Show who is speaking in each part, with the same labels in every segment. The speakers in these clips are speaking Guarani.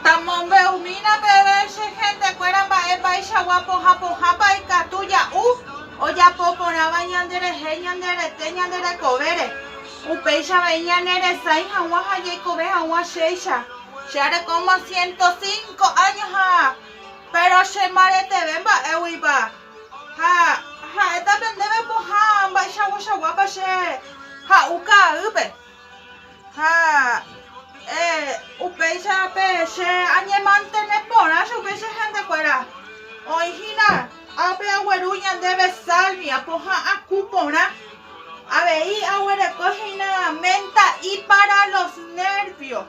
Speaker 1: Tamombe'umína peve che hentekuéra mba'éichagua pohã pohãpa ikatu ja'u ojapo porãva ñanderehe ñande rete ñande rekovére. Upéicha avei ñane resãi hag̃ua ha jaikove hag̃ua chéicha. Che arekóma siento cinco áño ha péro che mbareteve mba'éguipa. Ha ha'éta pe ndéve pohã mba'eichakuachakuápa che ha'u ka'aýpe. Ha upéicha pe che añemantene porã chupe che hénte kuéra. Oĩ hína ápe agueru ñandéve sálvia poha'ã ku porã. Avei aguereko hína ménta ipara los nérvio.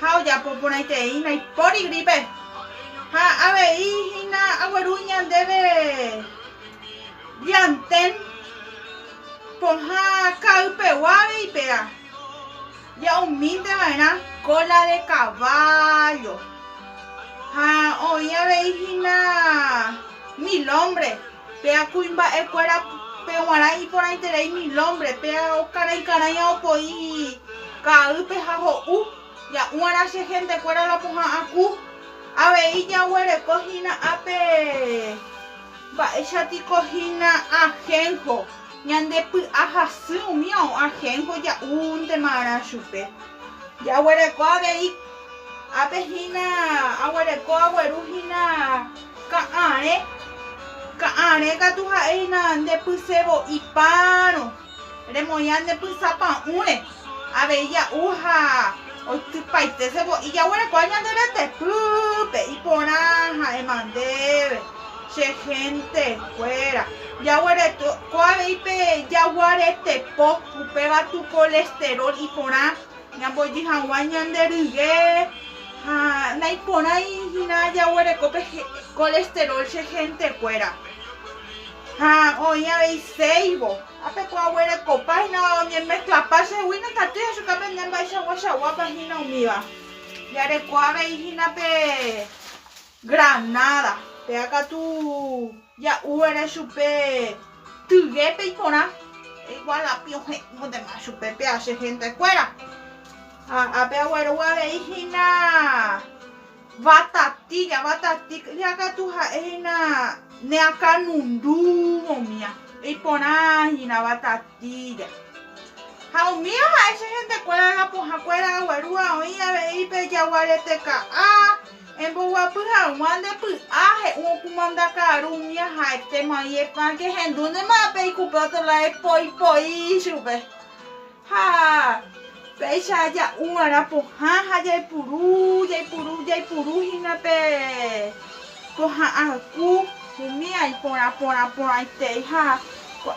Speaker 1: ha ojapo porãitereíva ndaipóri grípe ha avei hína agueru ñandéve llantén pohã ka'ypegua avei péva ja'umínteva'erã kóla de kavállo ha oĩ avei hína milómbre. Péa kuimba'ekuéra pe g̃uarã iporãiterei mil ómbre, péa okarãi karãi aopo'i ka'aýpe ha ho'u, ja'u'arã che hentekuéra la pohã aku. Avei jaguereko hína ápe mba'éichatiko hína ahénjo, ñande py'a hasy umi ao ahénjo ja'úntema arã chupe. Jaguereko avei ápe hína, aguereko agueru hína Ka'arẽ, ka'arẽ katu ha'e hína nde pysevo'i párõ, remoĩa ne pysa pa'ũre, avei ja'u ha oitypaite sevo'i jaguerekóa ñande retepýpe, iporã ha'éma ndéve, che hénte kuéra, jaguerekóa avei pe jaguarete po, upéva tu kolesterol iporã Ñambojy hag̃ua ñande ryke ha naiporãi hína jaguereko pe colesterol che hentekuéra. Ha oĩ avei séivo, ápe ko aguerekopa hína oñemezclapa chégui nekatúi ajuka pende mba'eichagua chaguápa hína umíva. Jareko avei hína pe Granada, péa katu ja'uva'erã chupe tyguépe iporã, igual api ohe'õntema chupe péa che hénte kuéra. Ha ápe aguerogue avei hína vatatilla, vatatilla katu ha'e hína ne akanundu omía, iporã hína vatatilla. Ha omía ha'e che hénte kuéra la pohã kuéra aguerúva oĩ avei pe jaguarete ka'a, Emboguapy haguã nde py'a, he'u okumanda ka'aru umi aha'ete mai epã kehendúnema pe ikupe otolá epoi poi ichupe. Ha péicha ja'u va'erã pohã ha jaipuru, jaipuru, jaipuru hína pe pohã arku, umi aiporã porã porãitei ha ko'ã.